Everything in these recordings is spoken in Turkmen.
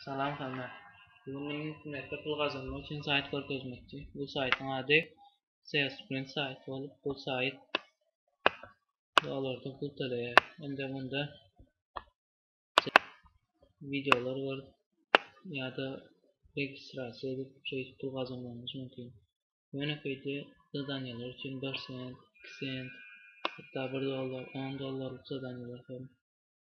Salam Hana. Bu gün men internetde pul gazanmak üçin saýt görkezmekçi. Bu saýtyň ady Salesprint saýty bolup, bu saýt dolarda pul töleýär. Indi munda videolar bar ýa-da registrasiýa edip, şeýdip pul gazanmagyňyz mümkin. Ýönekeýde zadaniýalar üçin 1 sent, 2 sent, hatda 1 dollar, 10 dollarlyk zadaniýalar hem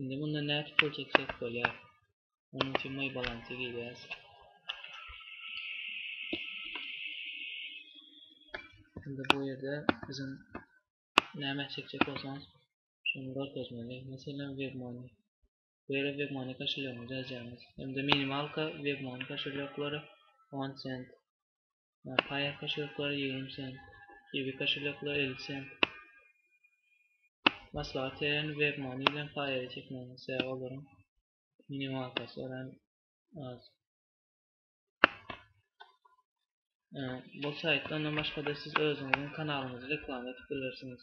Indi mundan näçe pul çeksek bolýar? Onuň üçin moý balansy girýäs. Indi bu ýerde biziň näme çekjek bolsaňyz şony görkezmeli. Meselem webmony. Bu ýere webmony koşulýogyňyzy ýazýaňyz. Hem-de minimalka webmony koşulýoklary 10 sent. Paýa kaşeloklar ýigrimi sent. Kiwi kaşeloklar elli sent. Maslahat berýän webmani bilen paýa çekmäňiz sebäbi olaryň minimalkasy örän az. Bu saýtda ondan başga-da siz özüňiziň kanalyňyzy reklama edip bilersiňiz.